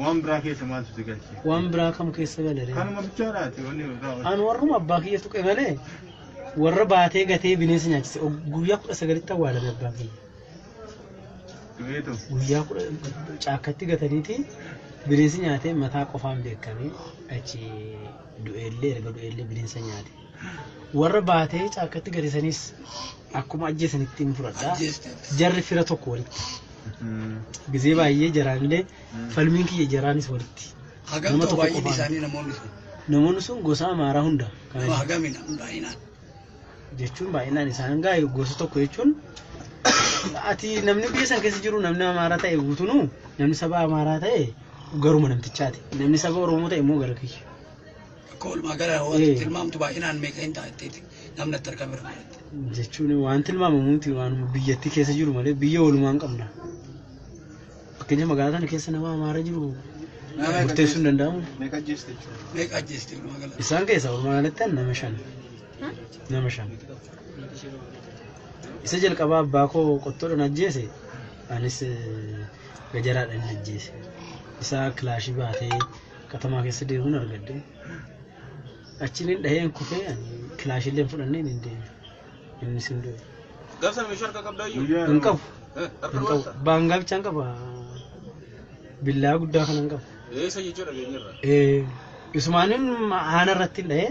Waan biraa keessa maaltu si galche? Waan biraa kam keessa galeree? Kanuma bichaadhaati wanni biraa. An warruma abbaa kiyya tuqe malee warra baatee gatee bineensa nyaachise Og- guyyaa kudha sagalitti awwaalame abbaan kiyya. Du'eetu. Guyyaa kudha caakkatti gataniiti bineensi nyaatee mataa qofaan beekamee achi du'eellee erga du'eellee bineensa nyaate. Warra baatee caakkatti garisanis akkuma ajjeesan ittiin fudhadha. Jarri fira tokko walitti. Gizee baay'ee jaraanillee falmiin kiyya jaraanis walitti. Hagam Nama ta'u tokko baay'een qofaan. isaanii namoonni sun. Namoonni sun gosa amaaraa hunda. Kana Nama hagami namni baay'inaan. jechuun baay'inaan isaan gaa gosa tokko jechuun ati namni biyya san keessa jiru namni amaaraa ta'e guutunuu namni saba amaaraa ta'e garuma namtichaati namni saba oromoo ta'e immoo gara kiyya Akka walumaa gala Eh. waan tilmaamtu baay'inaan meeqa hin ta'a jetteeti namni itti argame irraa jette. jechuun waan tilmaamamu miti waan biyyattii keessa jiru malee biyya walumaan qabna. Fakkeenya magaalaa kana keessa nama amaara jiru Nama murteessuu hin danda'amu. Meeqa ajjeeste jechuudha. Meeqa ajjeeste walumaa gala. Isaan keessaa walumaa galatti ani nama shan. Nama shan. Isa jalqabaa abbaa koo qottoodhaan ajjeese anis eh, gajaraadhaan ajjeese. Isaa kilaashii baatee Katamaa keessa deemuun argadde. Achiin dhaheen kufee ani kilaashillee hin fudhanneen hin deeme. Innis hin du'e. Gabsa meeshaa harkaa qabdaa iyyuu? Hin qabu. Eh, Harka Hin qabu. duwwaadha. Baangaa bichaan qaba. Billaa guddaa kanan qaba. Eessa jechuudha dhageenyarra? Eh, Isumaanin haana irratti hin dhahee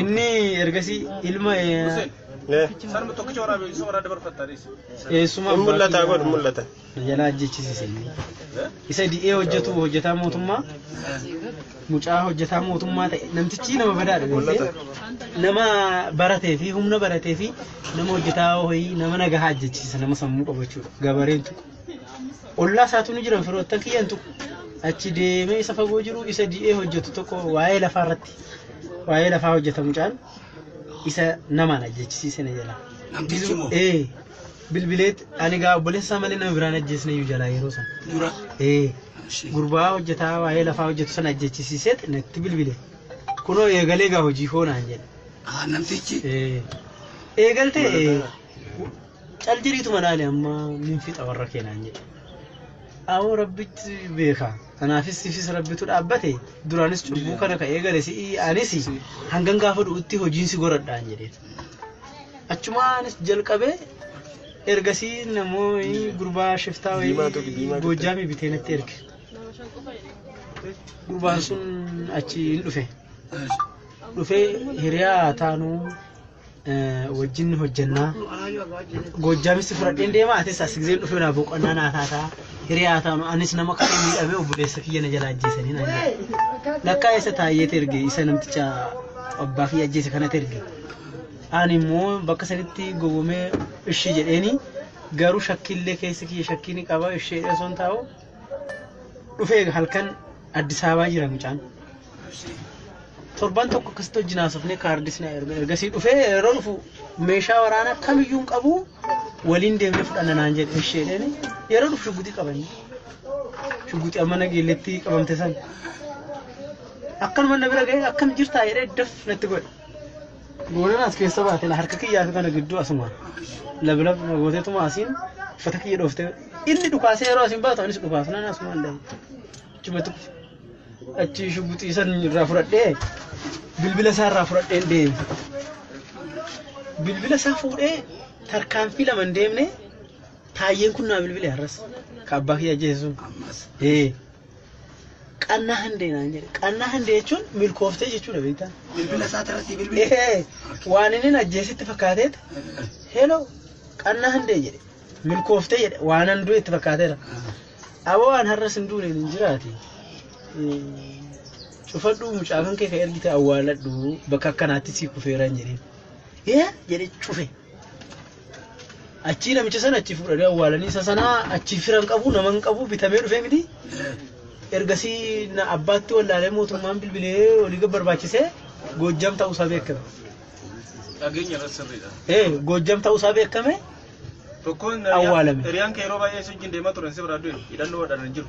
Inni ergasii ilma Sarma tokkicha waraabee isa waraa dabarfattaanis. eessuma Hin mul'ata godhu mul'ata. jalaa ajjechisiise inni. Isa di'ee hojjetu hojjetaa mootummaa mucaa hojjetaa mootummaa ta'e namtichi nama badaadha beekte nama baratee fi humna baratee fi nama hojjetaa ho'ii nama nagahaa ajjechisiisa nama sammuu qabachuudha gabareen tokko. ollaa isaatu ni jiran firoottan kiyyan tuqu achi deemee isa fagoo jiru isa di'ee hojjetu tokko waa'ee lafaa irratti waa'ee lafaa hojjeta mucaan isa namaan ajjechisiise na jala. Namtichi moo? Ee bilbileet ani gaa obboleessa isaa malee nama biraan ajjeesne iyyuu jalaa yeroo sana. Dura. Ee Ishee. gurbaa hojjetaa waa'ee lafaa hojjetu sana ajjechisiiseet natti bilbile. Kunoo eegalee gaa hojii koo naan jedhe. Ah, namtichi. Ee eegaltee ee cal jiriituma laale amma min fixa warra keenaan jedhe awoo rabbitti beeka kanaafis sifis rabbitu dhaabbate duraanis cubbuu kana ka eegale si'i anis hangan gaafa du'utti hojiin si goradhaan jedhe achumaanis jalqabee ergasii namoonni gurbaa shiftaa wayii goojjaamii bitee natti erge gurbaan sun achi hin dhufe dhufee hiriyaa taanuu wajjin hojjannaa goojjaamitti fudhadheen deema atis as giseen dhufee naa boqonnaa naa taataa hiriyaa taanu anis nama kan miidhamee obboleessa kiyya na jala ajjeesanii naan jedhe lakkaa eessa taa'eet erge isa namticha abbaa kiyya ajjeese kanatti erge ani immoo bakka sanitti gowwomee ishii jedheeni garuu shakkiillee keessa kiyya shakkii ni qaba ishee osoo hin taa'u dhufee halkan Addis Ababaa jira mucaan. Torban tokko akkasitti wajjin haasofnee kaardis na erga ergasii dhufee yeroo dhufu meeshaa waraanaa kamiyyuu hin qabu waliin deemnee fudhanna naan jedhe ishee jedheen yeroo dhufu shugguxii qabanii shugguxii amma nageelletti qabamte san akkanuma na bira ga'ee akkam jirtaa jedhee daf natti godhe. Boonan as keessa baate na harka kiyyaa fi kana gidduu asuma lablab gooteetuma asiin uffata kiyya dhoofte inni dhukaasee yeroo asiin baatu anis dhukaasu nan asuma hin dhabu. Achumatti kufe. Achi shuguxii san irraa fudhadhee bilbila isaa irraa fudhadheen deeme. Bilbila isaa fuudhee tarkaanfii lama hin deemne taayyeen kun naa bilbile har'as. Ka abbaa kiyya ajjeese sun. Ee. Qannaa handee naan jedhe. Qannaa handee jechuun milkooftee jechuudha beektaa? Bilbila isaa irratti bilbila. Ee, waan inni na ajjeesitti fakkaateet heloo qannaa handee jedhe. Milkooftee jedhe waan an du'etti fakkaateera. Aboo waan har'as hin duune hin jiraati. Ee, Cufadhuu mucaa kan kee ka ergite awwaaladhu bakka akkanaatti sii kufeera hin jedhin. Ee jedhe cufe. Achii namicha sana achii fuudhanii awwaalanii isa sana achii firan qabu nama hin qabu bitamee dhufee miti. Ergasii na abbaatti wallaalee mootummaan bilbilee olii gad barbaachisee Goojjam ta'uusaa beekame. Dhageenya irratti sirriidha. Ee Goojjam ta'uusaa beekame Tokkoon Awwaalame. hiriyaan kee yeroo baay'ee si wajjin deemaa turan si biraa du'e hidhannoo wadhaan hin jiru.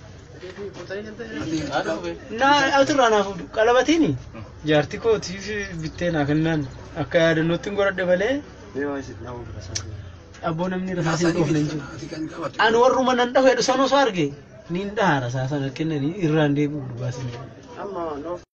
Naa asirraa naaf fuudhu. Qalabatiini jaartii kootiif bittee naa kennaan akka yaadannootti hin godhadhe malee abboo namni rasaasa hin dhoofne hin jiru. Ani warruma nan dhahu jedhu san osoo arge niin dhaha rasaasa na kennanii irraan deebi'u dhugaa sana.